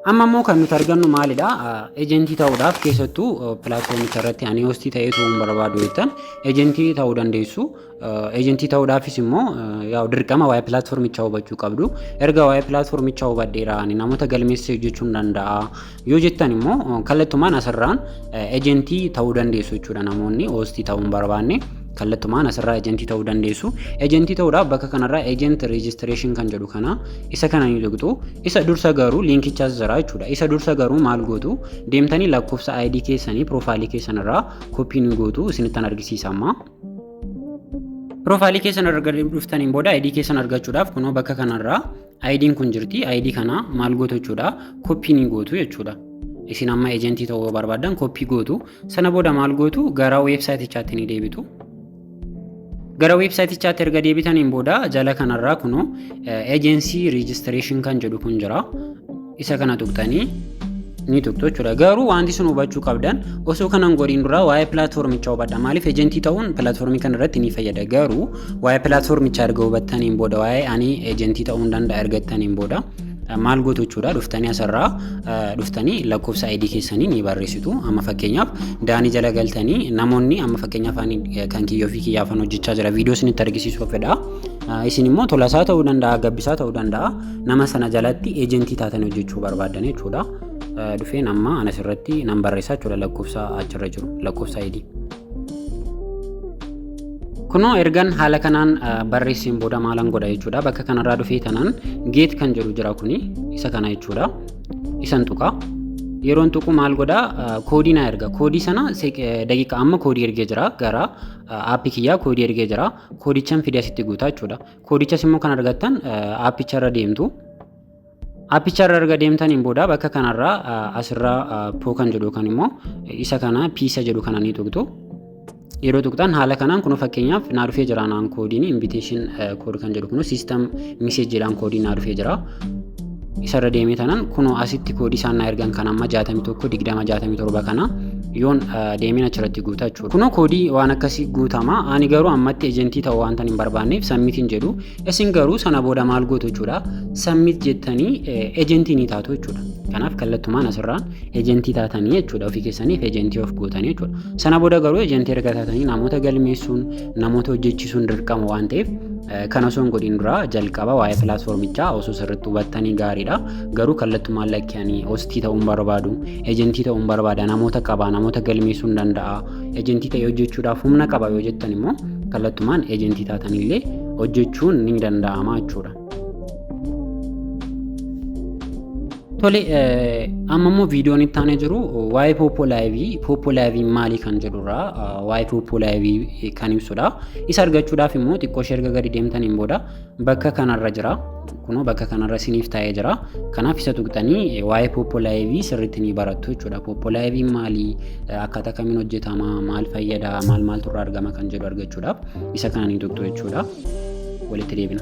Amma immoo kan nuti argannu maalidha? Ejentii ta'uudhaaf keessattuu pilaatfoomicha irratti ani hoostii ta'ee turuun barbaadu jettan ejentii ta'uu dandeessu. Ejentii ta'uudhaafis immoo yaa'u dirqama waa'ee pilaatfoomichaa hubachuu qabdu. Erga waa'ee pilaatfoomichaa hubadheera ani namoota galmeessee hojjechuu nan danda'a yoo jettan immoo kallattumaan asirraan ejentii ta'uu dandeessu jechuudha namoonni hoostii ta'uu hin barbaanne. Kallattumaan asirraa ejentii ta'uu dandeessu. Ejentii ta'uudhaaf bakka kanarraa ejent rejistireeshin kan jedhu kana isa kana ni tuqxu. Isa dursa garuu liinkichaas jira jechuudha. Isa dursa garuu maal gootu deemtanii lakkoofsa ID keessanii piroofaayilii keessanirraa koppii ni gootu isinittan argisiisa amma. Piroofaayilii keessan erga dhuftaniin booda ID keessan argachuudhaaf kunoo bakka kanarraa Ayidiin kun jirti. Ayidii kana maal gootu jechuudha? Koppii ni gootu jechuudha. Isin amma ejentii ta'uu barbaaddan koppii gootu. Sana booda maal gootu? Gara weebsaayitichaatti ni deebitu. Gara weebsaayitichaatti erga deebitaniin booda jala kanarraa kunoo ejensii riijistireeshin kan jedhu kun jira. isa kana tuqxanii ni tuqxu jechuudha. Garuu wanti sun hubachuu qabdan osoo kanan godhin duraa waa'ee pilaatfoormichaa hubadha. Maaliif ejentii ta'uun pilaatfoormii kana irratti ni fayyada. Garuu waa'ee pilaatfoormichaa erga hubattaniin booda waa'ee ani ejentii ta'uu nan danda'a ergattaniin booda maal gootu jechuudha dhuftanii asirraa dhuftanii lakkoofsa ID keessanii ni barreessitu. Amma fakkeenyaaf daanii jala galtanii namoonni amma fakkeenyaaf ani kan kiyyoo fi kiyyaafan hojjechaa jira viidiyoo isinitti argisiisuuf fedha. Isin immoo tolasaa ta'uu danda'a gabbisaa ta'uu danda'a. nama sana jalatti eejentii taatan hojjechuu barbaaddan jechuudha. Dhufeen amma anas irratti nan barreessa jechuudha lakkoofsa achirra jiru lakkoofsa ID. Kunoo ergan haala kanaan barreesseen booda maalan godha jechuudha. Bakka kanarraa dhufee tanaan geet kan jedhu jira kuni isa kana jechuudha. Isan tuqa. Yeroon tuqu maal godha koodii na erga. Koodii sana daqiiqa amma koodii ergee jira gara aappii kiyyaa koodii ergee jira. Koodichan fidee asitti guutaa jechuudha. Koodichas immoo kan argattan aappicha irra deemtu. Aappicha irra erga deemtaniin booda bakka kanarraa asirraa poo kan jedhu kan immoo isa kana piisa jedhu kana ni tuqxu. Yeroo tuqxan haala kanaan kun fakkeenyaaf naa dhufee jira naan koodiin invitation kood kan jedhu kun system message jedhaan koodiin naa dhufee jira. isarra deemee tanan kunoo asitti koodii isaan na ergan kan amma 61 20 67 kana yoon deemeen achirratti guuta jechuudha. Kunoo koodii waan akkasii guutama. Ani garuu ammatti ejentii ta'uu waan hin barbaanneef sammit hin jedhu. Isin garuu sana booda maal gootu jechuudha. Sammit jettanii ejentii ni taatu jechuudha. Kanaaf kallattumaan asirraa ejentii taatanii jechuudha. Ofii keessaniif ejentii of gootanii jechuudha. Sana booda garuu ejentii erga taatanii namoota galmeessuun namoota hojjechiisuun dirqama waan ta'eef kan osoo hin godhin duraa jalqaba waa'ee pilaatfoormichaa osoo sirriitti hubattanii gaariidha. Garuu kallattumaan lakkanii hostii ta'uun barbaadu, ejentii ta'uun barbaada, namoota qaba, namoota galmeessuu hin danda'a, ejentii ta'ee hojjechuudhaaf humna qaba yoo jettan immoo kallattumaan ejentii taatanillee hojjechuun ni danda'ama jechuudha. Tole amma immoo viidiyoon itti aanee jiru waa'ee poopoo laayivii poopoo laayivii maalii kan jedhurra waa'ee poopoo laayivii kan ibsudha. Isa argachuudhaaf immoo xiqqoo ishee erga gadi deemtaniin booda bakka kanarra jira. Kunoo bakka kanarra isiniif taa'ee jira. Kanaaf isa tuqxanii waa'ee poopoo laayivii sirriitti ni barattu jechuudha. Poopoo laayivii maalii akkaataa kamiin hojjetama maal fayyada maal maaltu irraa argama kan jedhu argachuudhaaf isa kana ni tuqxu jechuudha. Walitti deebina.